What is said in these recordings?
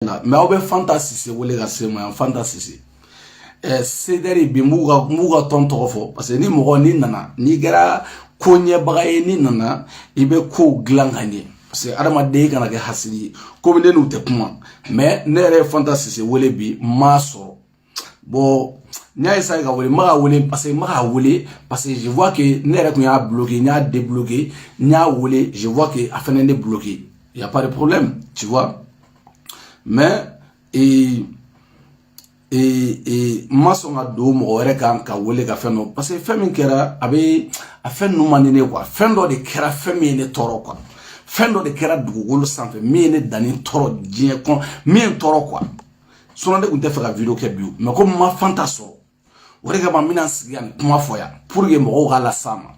na mais aw bɛ fanta sise wele ka se ma yan fanta sise ɛɛ cdr bi n b'u ka n b'u ka tɔn tɔgɔ fɔ parce que ni mɔgɔ n'i nana n'i kɛra ko ɲɛbaga ye n'i nana i bɛ kow dilan ka ɲɛ parce que adamaden kana kɛ hasidi ye komi ne n'u tɛ kuma mais ne yɛrɛ ye fanta sise wele bi n m'a sɔrɔ n y'a ye k'a wele n k'a wele parce que n k'a wele parce que je vois que ne yɛrɛ tun y'a bloqué n y'a débloqué n y'a wele je vois que a fɛnɛ ne bloqué y a pas de problème tu vois mais ee ee ee n ma sɔn ka don mɔgɔ wɛrɛ kan k'a wele ka fɛn dɔ parce que fɛn min kɛra a bɛ a fɛn ninnu man di ne quoi fɛn dɔ de kɛra fɛn min ye ne tɔɔrɔ quoi fɛn dɔ de kɛra dugukolo sanfɛ min ye ne dani tɔɔrɔ diɲɛ kɔnɔ min ye n tɔɔrɔ quoi sinon ne tun t'a fɛ ka vidéo kɛ bi mais comme n ma fanta sɔrɔ o de kama n bɛna sigi yan kuma fɔ yan pour que mɔgɔw ka las'a ma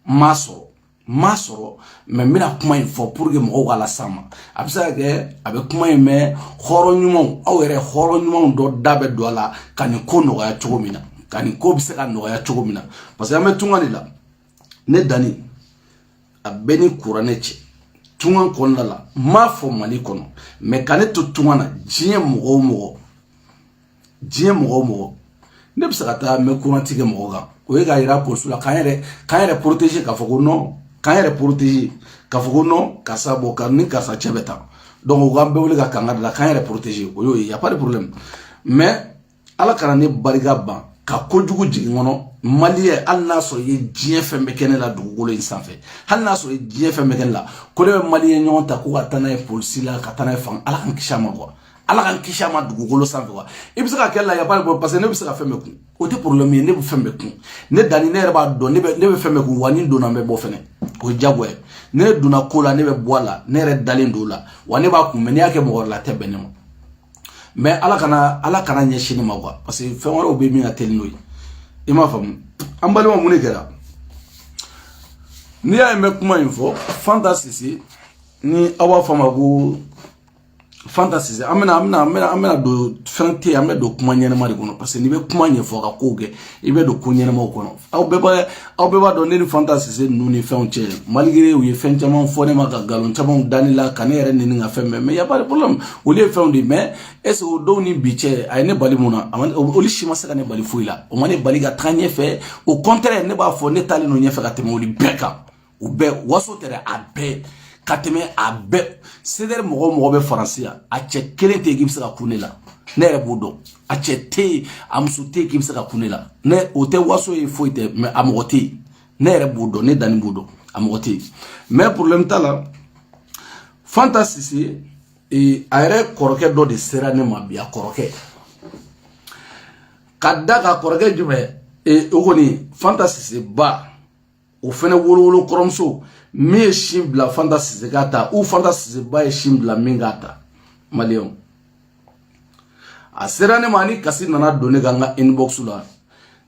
n m'a sɔrɔ n m'a sɔrɔ mais n bɛna kuma in fɔ pour que mɔgɔw ka las'a ma a bɛ se ka kɛ a bɛ kuma in mɛn hɔrɔn ɲumanw aw yɛrɛ hɔrɔn ɲumanw dɔ da bɛ don a la ka nin ko nɔgɔya cogo min na ka nin ko bɛ se ka nɔgɔya cogo min na parce que an bɛ tunga de la ne dani a bɛ n ni kuranɛ cɛ tunga kɔnɔna la n m'a fɔ mali kɔnɔ mais ka ne to tunga na diɲɛ mɔgɔ o mɔgɔ diɲɛ mɔgɔ o mɔgɔ ne bɛ se ka taa main courante kɛ mɔgɔ kan o ye k'a yira polisiw la k'an yɛrɛ k'an yɛrɛ protéger k'a fɔ ko non k'an yɛrɛ protéger k'a fɔ ko non karisa bɔ ka ni karisa cɛ bɛ taa donc u k'an bɛɛ wele ka kankari an la k'an yɛrɛ protéger o y'o ye y a pas de problème mais ala kana ne barika ban ka kojugu jigin n kɔnɔ malien hali n'a sɔrɔ i ye diɲɛ fɛn bɛɛ kɛ ne la dugukolo in sanfɛ hali n'a sɔrɔ i ye diɲɛ fɛn bɛɛ kɛ ne la ko ne bɛ malien ɲɔgɔn ta ko ka taa n'a ye polisi la ka taa n'a ye fanga ala k'an kisi a ma quoi ala k'an kisi a ma dugukolo sanfɛ quoi i bɛ se k'a kɛ n la y a pas parce que ne bɛ se ka fɛn bɛɛ kun o tɛ problème ye ne bɛ fɛn bɛɛ kun ne dani ne yɛrɛ b'a dɔn ne bɛ ne bɛ fɛn bɛɛ kun wa ni n donna n bɛ bɔ fɛnɛ o ye jagoya ye ne donna ko la ne bɛ bɔ a la ne yɛrɛ dalen don o la wa ne b'a kun mais n'i y'a kɛ mɔgɔ wɛrɛ la a tɛ bɛn ne ma mais ala kana ala kan'a ɲɛsin ne ma quoi parce que fɛn wɛrɛw bɛ min ka teli n'o ye i m'a faamu an balima mun de kɛra n'i y'a ye n bɛ kuma in fɔ fanta sise ni aw b'a fɔ a ma ko fanta sise an bɛna an bɛna an bɛna an bɛna don fɛn tɛ yen an bɛ don kuma ɲɛnɛma de kɔnɔ parce que n'i bɛ kuma ɲɛfɔ ka kow kɛ i bɛ don ko ɲɛnɛmaw kɔnɔ aw bɛɛ b'a aw bɛɛ b'a dɔn ne ni fanta sise ninnu ni fɛnw cɛ malgré u ye fɛn caman fɔ ne ma ka nkalon camanw da ne la ka ne yɛrɛ neni ka fɛn bɛɛ mais y a pas de problème olu ye fɛnw de mais est ce que o don ni bi cɛ a ye ne bali mun na olu si ma se ka ne bali foyi la o ma ne bali ka taga ɲɛfɛ au contraire ne b'a fɔ ne taalen don ɲɛfɛ ka tɛmɛ olu bɛɛ kan u bɛɛ waso tɛ dɛ a bɛɛ ka tɛmɛ a bɛɛ sedɛri mɔgɔ mɔgɔ bɛ faransi yan a cɛ kelen tɛ yen k'i bɛ se ka kun ne la ne yɛrɛ b'o dɔn a cɛ tɛ yen a muso tɛ yen k'i bɛ se ka kun ne la ne o tɛ waso ye foyi tɛ mais a mɔgɔ tɛ yen ne yɛrɛ b'o dɔn ne danni b'o dɔn a mɔgɔ tɛ yen mais porobilɛmu t'a la fanta sise ee, a yɛrɛ kɔrɔkɛ dɔ de sera ne ma bi a kɔrɔkɛ ka da ka kɔrɔkɛ jumɛn ee, o kɔni fanta sise ba o fɛnɛ wolowolo kɔrɔmuso min ye sin bila fanta sise k'a ta o fanta sise ba ye sin bila min k'a ta maliyɛnw a sera ne ma ni kasi nana don ne ka n ka inbox la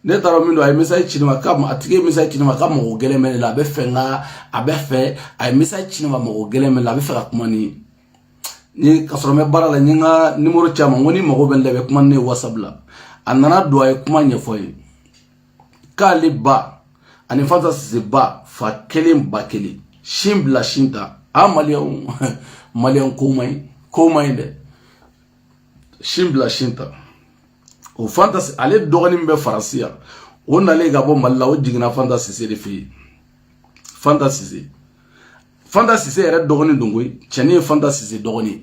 ne t'a dɔn min don a ye message ci ne ma k'a tigi ye message ci ne ma k'a mago gɛlɛn bɛ ne la a b'a fɛ n ka a b'a fɛ a ye message ci ne ma mago gɛlɛn bɛ ne la a b'a fɛ ka kuma ni n ye k'a sɔrɔ n bɛ baara la n ye n ka nimɔrɔ ci a ma n ko n'i mago bɛ n la i bɛ kuma ni ne ye whatsapp la a nana don a ye kuma ɲɛfɔ n ye k'ale ba ani fanta sise ba fa kelen ba kelen sin bila sin ta a maliyɛnw maliyɛn ko man ɲi ko man ɲi dɛ sin bila sin ta o fanta ale dɔgɔnin bɛ faransi yan o nalen ka bɔ mali la o jiginna fanta sise de fɛ yen fanta sise fanta sise yɛrɛ dɔgɔnin don koyi cɛnin ye fanta sise dɔgɔnin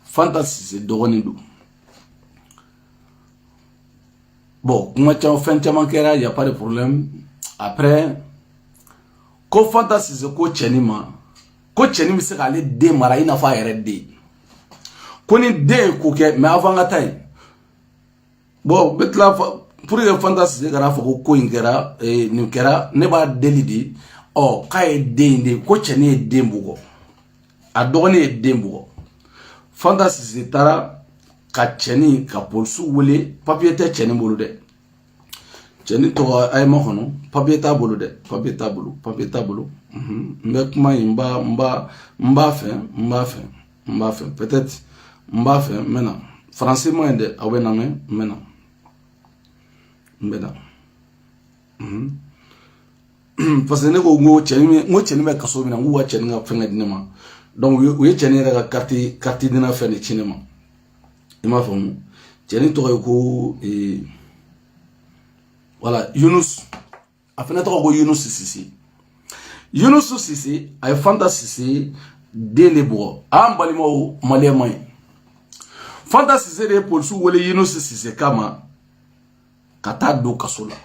fanta sise dɔgɔnin don bɔn kuma caman fɛn caman kɛra y a pas de problème après ko fanta sise ko cɛnin ma ko cɛnin bɛ se k'ale den mara i n'a fɔ a yɛrɛ den ko ni den ye ko kɛ mais avant n ka taa yen bɔn bɛ tila pour que fanta sise kana a fɔ ko ko in kɛra eh, nin kɛra ne b'a deli de ɔ k'a ye den de ko cɛnin ye den bugɔ a dɔgɔnin ye den bugɔ fanta sise taara ka cɛnin ka polisiw wele papiye tɛ cɛnin bolo dɛ cɛnin tɔgɔ ayima kɔnɔ papiye t'a bolo dɛ papiye t'a bolo papiye t'a bolo n bɛ kuma in n b'a n b'a n b'a fɛ n b'a fɛ n b'a fɛ peut-être n b'a fɛ n bɛ na faransi ma yen dɛ aw bɛ n'a mɛn n bɛ na n bɛ na parce que ne ko n ko cɛnin bɛ n ko cɛnin bɛ kaso min na n k'u ka cɛnin ka fɛngɛ di ne ma donc u ye cɛnin yɛrɛ ka kariti kariti dina fɛn de ci ne ma i m'a faamu cɛnin tɔgɔ ye ko voilà yunus a fana tɔgɔ ko yunusu sise yunusu sise a ye fanta sise den de bugɔ an balimaw maliyɛn ma ye fanta sise de ye polisiw wele yunusu sise kama ka taa don kaso la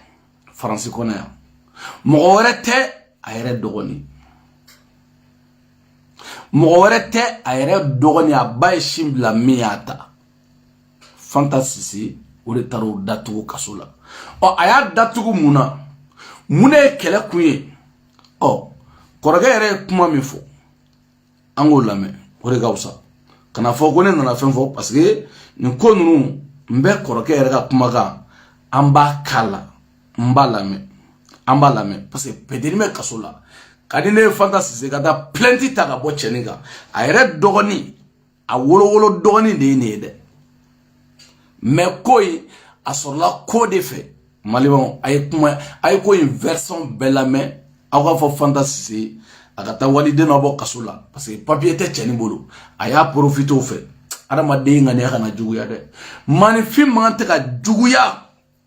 faransi kɔnɔ yan mɔgɔ wɛrɛ tɛ a yɛrɛ dɔgɔnin mɔgɔ wɛrɛ tɛ a yɛrɛ dɔgɔnin a ba ye sin bila min y'a ta fanta sise o de taara o datugu kaso la ɔ a y'a datugu mun na mun de ye kɛlɛ kun ye ɔ kɔrɔkɛ yɛrɛ ye kuma min fɔ an k'o lamɛn o de ka fisa kana fɔ ko ne nana fɛn fɔ parce que nin ko ninnu n bɛ kɔrɔkɛ yɛrɛ ka kumakan an b'a k'a la n b'a lamɛn an b'a lamɛn parce que petit nin bɛ kaso la ka di ne ye fanta sise ka taa plainte ta ka bɔ cɛnin kan a yɛrɛ dɔgɔnin a wolowolo dɔgɔnin de ye nin ye dɛ mais ko in a sɔrɔla ko de fɛ malibanw a ye kuma a ye ko in version bɛɛ lamɛn aw k'a fɔ fanta sise a ka taa waliden dɔ bɔ kaso la parce que papier tɛ cɛnin bolo a y'a profité o fɛ adamaden ŋaniya kana juguya dɛ maaninfin man kan tɛ ka juguya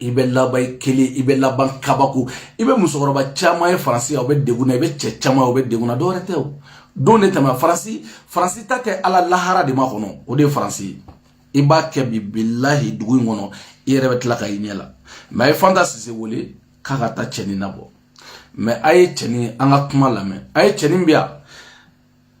i bɛ laban i kelen i bɛ laban kabako i bɛ musokɔrɔba caman ye faransi yan u bɛ degun na i bɛ cɛ caman ye u bɛ degun na dɔwɛrɛ tɛ o don de tɛmɛ faransi faransi ta tɛ ala lahara de makɔnɔ o de ye faransi ye i b'a kɛ bi bilahi dugu in kɔnɔ i yɛrɛ bɛ tila k'a y'i ɲɛ la mais a ye fanta sise wele k'a ka taa cɛnin nabɔ mais a ye cɛnin in ka kuma lamɛn a ye cɛnin bɛ yan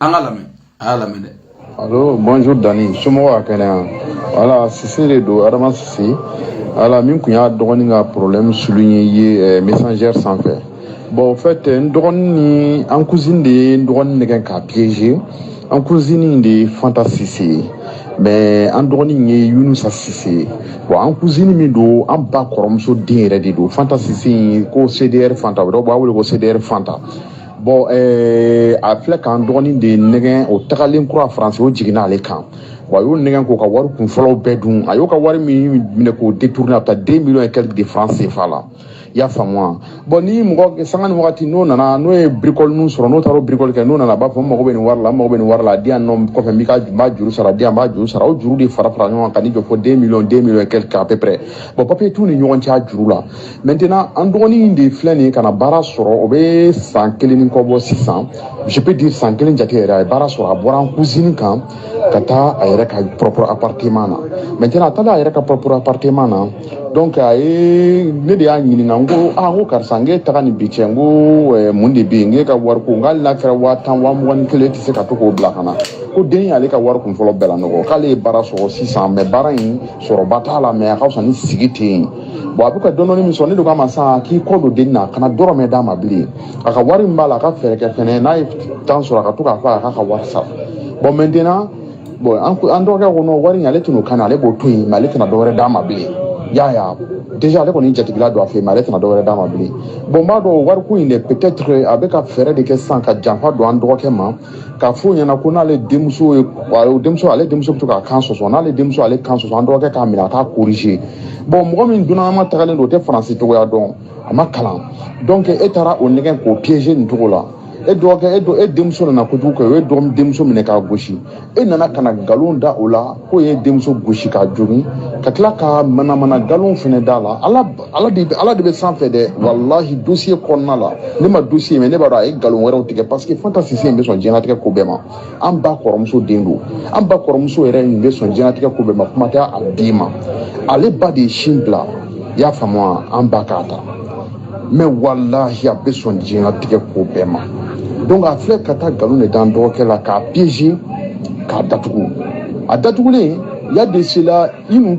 an ka lamɛn a y'a lamɛn dɛ Allô, bonjour Dani, somɔgɔw ka kɛnɛ yan. Voilà, Sise de don, Adama Sise. Voilà, min tun y'a dɔgɔnin ka problème souligner ye eh, messenger sanfɛ. Bon, au fait, eh, n dɔgɔnin in an cousine de ye n dɔgɔnin nɛgɛn k'a piéger. An cousine in de ye Fanta Sise ye. Mais an dɔgɔnin in ye Yunusa Sise ye. Bon, an cousine min don, an ba kɔrɔmuso den yɛrɛ de don. Fanta Sise in ko CDR Fanta, o dɔw b'a wele ko CDR Fanta. bon eh, a filɛ k'an dɔgɔnin de nɛgɛn o tagalen kura faransi o jiginna ale kan wa a y'o nɛgɛn k'o ka wari kunfɔlɔw bɛɛ dun a y'o ka wari min minɛ k'o détourner a bɛ taa deux millions et quelques de francs CFA la i y'a faamu wa bon ni mɔgɔ sanga ni wagati n'o nana n'o ye birikɔli ninnu sɔrɔ n'o taara o birikɔli kɛ n'o nana a b'a fɔ n mago bɛ nin wari la n mago bɛ nin wari la a di yan nɔ kɔfɛ n b'i ka n b'a juru sara di yan n b'a juru sara o juru de fara fara ɲɔgɔn kan ka n'i jɔ fo deux millions deux millions et quelques à peu près bon papier t'u ni ɲɔgɔn cɛ a juru la maintenant an dɔgɔnin de filɛ nin ye ka na baara sɔrɔ o bɛ san kelen ni kɔ bɔ sisan je peux dire san kelen jate yɛrɛ a ye baara sɔrɔ a bɔra an cousine kan ka taa a yɛrɛ ka propre appartement na maintenant a taalen a yɛrɛ ka propre appartement na donc a ye ne de y'a ɲininka n ko ah n ko karisa n k'e taganin bi cɛ n ko eh, mun de bɛ yen n k'e ka wari ko n k'ali n'a kɛra waa tan waa mugan ni kelen e tɛ se ka to k'o bila ka na ko den y'ale ka wari kunfɔlɔ bɛɛ lanɔgɔ k'ale ye baara sɔrɔ sisan mais baara in sɔrɔba t'a la mais a ka fisa ni sigi ten ye bon a bɛ ka dɔɔnin min sɔrɔ ne de k'a ma sa k'i kɔ don den na a kana dɔrɔmɛ d'a ma bilen a ka wari min b'a la a ka fɛɛrɛ kɛ fɛnɛ n'a ye temps sɔrɔ a ka to k'a fɔ a k'a ka wari sara bon maintenant bon an dɔgɔkɛ ko non wari in ale tɛn'o kani ale b'o to yen mais ale tɛna dɔwɛrɛ d'a ma bilen y'a ye déjà ale kɔni jatigila don a fɛ yen mais ale tɛna dɔwɛrɛ d'a ma bilen bon n b'a dɔn wariko in de peut-être a bɛ ka fɛɛrɛ de kɛ sisan ka janfa don an dɔgɔkɛ ma k'a f'o ɲɛna ko n'ale denmuso ye denmuso ale denmuso bɛ to k'a kan sɔsɔ n'ale denmuso ale kan sɔsɔ an dɔgɔkɛ k'a minɛ a k'a corriger bon mɔgɔ min dunanama tagalen don o tɛ faransi cogoya dɔn a ma kalan donc e taara o nɛgɛn k'o piéger nin cogo la e dɔgɔkɛ e dɔ e denmuso nana kojugu kɛ o ye dɔgɔ denmuso minɛ k'a gosi e nana ka na nkalon da o la k'o ye denmuso gosi k'a jogin ka tila ka manamana nkalon fana d'a la ala ala de ala de bɛ sanfɛ dɛ walahi dossier kɔnɔna la ne ma dossier mais ne b'a dɔn a ye nkalon wɛrɛw tigɛ parce que fanta sise in bɛ sɔn diɲɛlatigɛ ko bɛɛ ma an ba kɔrɔmuso den don an ba kɔrɔmuso yɛrɛ in bɛ sɔn diɲɛlatigɛ ko bɛɛ ma kuma tɛ a den ma ale ba de ye sin bila i y'a faamu wa an ba k'a ta mais walahi a bɛ sɔn diɲɛlatigɛ ko bɛɛ ma donc a filɛ ka taa nkalon de d'an dɔgɔkɛ la k'a piéger k'a datugu a datugulen y'a de sela i nu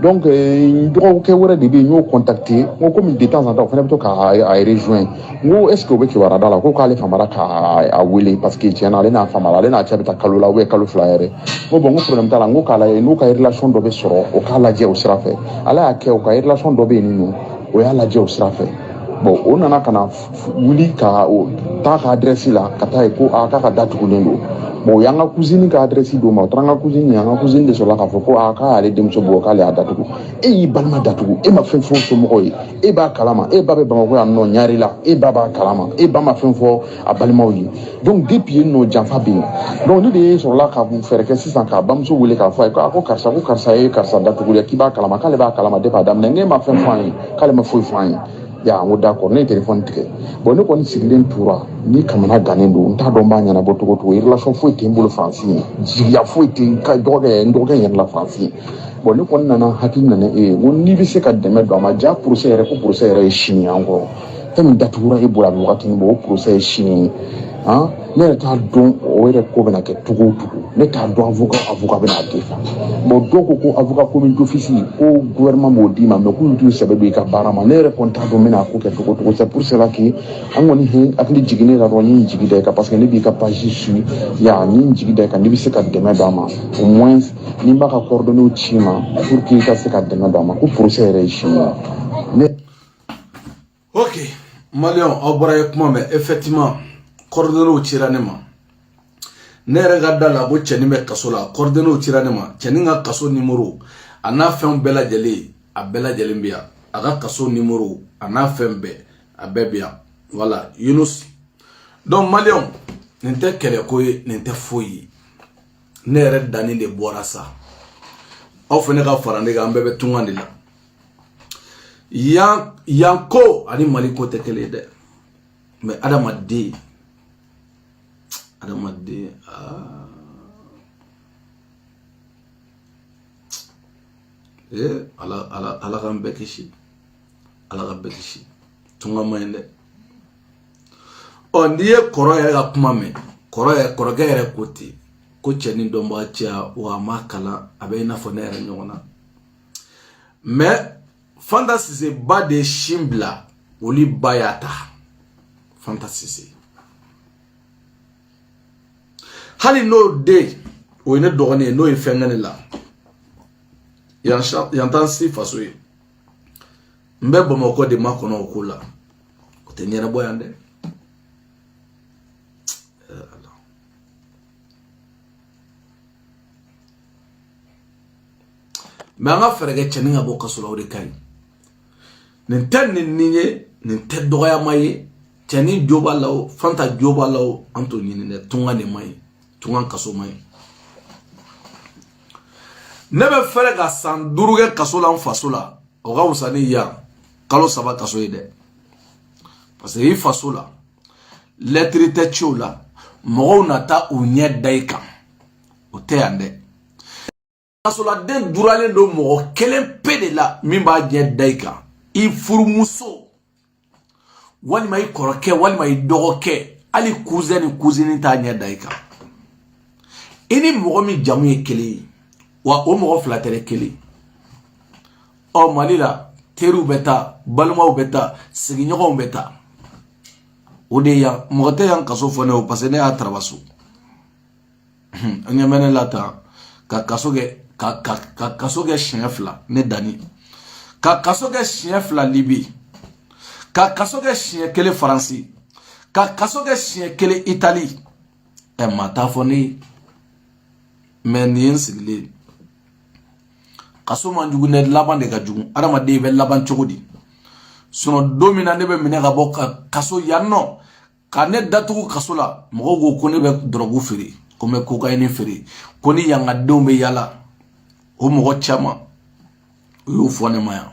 donc n dɔgɔkɛ wɛrɛ de bɛ yen n y'o contacté n ko komi de temps en temps o fana bɛ to k'a a rejoint n ko est ce que o bɛ kibaruya d'a la ko k'ale famara k'a a wele parce que tiɲɛ na ale n'a famara ale n'a cɛ bɛ taa kalo la ou bien kalo fila yɛrɛ n ko bon n ko problème t'a la n ko k'a lajɛ n'o ka relation dɔ bɛ sɔrɔ o k'a lajɛ o sira fɛ ala y'a kɛ o ka relation dɔ bɛ yen nin nɔ o y'a lajɛ o sira fɛ bon o nana ka na wuli ka o taa ka adrɛsi la ka taa ye ko a k'a ka da tugulen don bon o y'an ka cousine ka adrɛsi d'o ma o taara an ka cousine an ka cousine de sɔrɔla k'a fɔ ko a k'a y'ale denmuso bugɔ k'ale y'a datugu e y'i balima datugu e ma fɛn fɔ somɔgɔw ye e b'a kalama e ba bɛ bamakɔ yan nɔ ɲarela e ba b'a kalama e ba ma fɛn fɔ a balimaw ye donc depuis yen nɔ janfa bɛ yen donc ne de ye sɔrɔla ka fɛɛrɛ kɛ sisan k'a bamuso wele k'a fɔ a ye ko a ko karisa ko karisa ye karisa datugu dɛ k'i b'a kalama k'ale b'a kalama depuis a daminɛ n'e ma fɛn fɔ an ye k'ale ma foyi fɔ an ye ya n ko d'accord ne ye telefɔni tigɛ bon ne kɔni sigilen tora ne kamanagannen don n t'a dɔn n b'a ɲɛnabɔ cogo cogo relation foyi tɛ n bolo faransi yen jigiya foyi tɛ n ka dɔgɔkɛ n dɔgɔkɛ yɛrɛ la faransi yen bon ne kɔni nana hakili nana e ye n ko n'i bɛ se ka dɛmɛ don a ma ja procès yɛrɛ ko procès yɛrɛ ye sini encore fɛn min datugura e bolo a bɛ wagatini bɔ o procès ye sini ye han ne yɛrɛ t'a dɔn o yɛrɛ ko bɛna kɛ cogo o cogo ne t'a dɔn avocat avocat bɛna a défend bon dɔw ko ko avocat commis d'office ko gouvernement b'o d'i ma mais k'olu t'u sɛbɛ don i ka baara ma ne yɛrɛ kɔni t'a dɔn n bɛna a ko kɛ cogo o cogo c'est pour cela que an kɔni he hakili jiginnen e la dɔrɔn n ye n jigi da i kan parce que ne b'i ka page suivi ya n ye n jigi da i kan n'i bɛ se ka dɛmɛ d'a ma au moins ne b'a ka coordonnées ci i ma pour que i ka se ka dɛmɛ d'a ma ko procès yɛrɛ ye sini ye ne ok maliyɛnw aw bɔra ye kuma mɛn effectivement coordonnéesw cira ne ma ne yɛrɛ ka d'a la bon cɛnin bɛ kaso la coordonnéesw cira ne ma cɛnin ka kaso numéro a n'a fɛnw bɛɛ lajɛlen a bɛɛ lajɛlen bɛ yan a ka kaso numéro a n'a fɛn bɛɛ a bɛɛ bɛ yan voilà yunus donc maliyɛnw nin tɛ kɛlɛko ye nin tɛ foyi ye ne yɛrɛ danni de bɔra sa aw fana ka fara ne kan an bɛɛ bɛ tunga de la yan yan ko ani mali ko tɛ kelen ye dɛ mɛ adamaden adamaden aa ee eh, ala ala ala k'an bɛɛ kisi ala ka bɛɛ kisi tunga man ɲi dɛ ɔ n'i ye kɔrɔ yɛrɛ ka kuma mɛn kɔrɔ yɛrɛ kɔrɔkɛ yɛrɛ ko ten ko cɛnin dɔnbaga ka ca wa a ma kalan a bɛ i n'a fɔ ne yɛrɛ ɲɔgɔn na mɛ fanta sise ba de ye sin bila olu ba y'a ta fanta sise hali n'o den o ye ne dɔgɔnin ye n'o ye fɛn kɛ ne la yan t'an si faso ye n bɛ bamakɔ de makɔnɔ o ko la o tɛ ɲɛnabɔ yan dɛ mɛ an ka fɛɛrɛ kɛ cɛnin ka bɔ kaso la o de ka ɲi nin tɛ nin nin ye nin tɛ dɔgɔyama ye cɛnin jo b'a la o fanta jo b'a la o an t'o ɲini dɛ tunga de man ɲi tunga kaso man ɲi ne bɛ fɛɛrɛ ka san duuru kɛ kaso la n faso la o ka wusa ni yan kalo saba kaso ye dɛ parce que i faso la lɛtiri tɛ ciw la mɔgɔw na taa u ɲɛ da i kan o tɛ yan dɛ kasoladen duralen don mɔgɔ kelen pe de la min b'a ɲɛ da i kan i furumuso walima i kɔrɔkɛ walima i dɔgɔkɛ hali kuzɛn ni kuzini t'a ɲɛ da i kan i ni mɔgɔ min jamu ye kelen ye wa o mɔgɔ fila tɛ kelen ɔ mali la teriw bɛ taa balimaw bɛ taa sigiɲɔgɔnw bɛ taa o tɛ yan mɔgɔ tɛ yan kaso fɔ ne o parce que ne y'a traverser n ɲɛ bɛ ne la tan ka kaso kɛ ka ka ka kaso kɛ siɲɛ fila ne deli ka kaso kɛ siɲɛ fila libi ka kaso kɛ siɲɛ kelen faransi ka kaso kɛ siɲɛ kelen itali ɛ maa t'a fɔ ne ye mɛ nin ye n sigilen ye kaso man jugu ne laban de ka jugu adamaden bɛ laban cogo di sinɔn don min na ne bɛ minɛ ka bɔ ka kaso yan nɔ ka ne datugu kaso la mɔgɔw ko ko ne bɛ dɔrɔgu feere ko n bɛ kokayini feere ko ni yangadenw bɛ yaala o mɔgɔ caman u y'o fɔ ne ma yan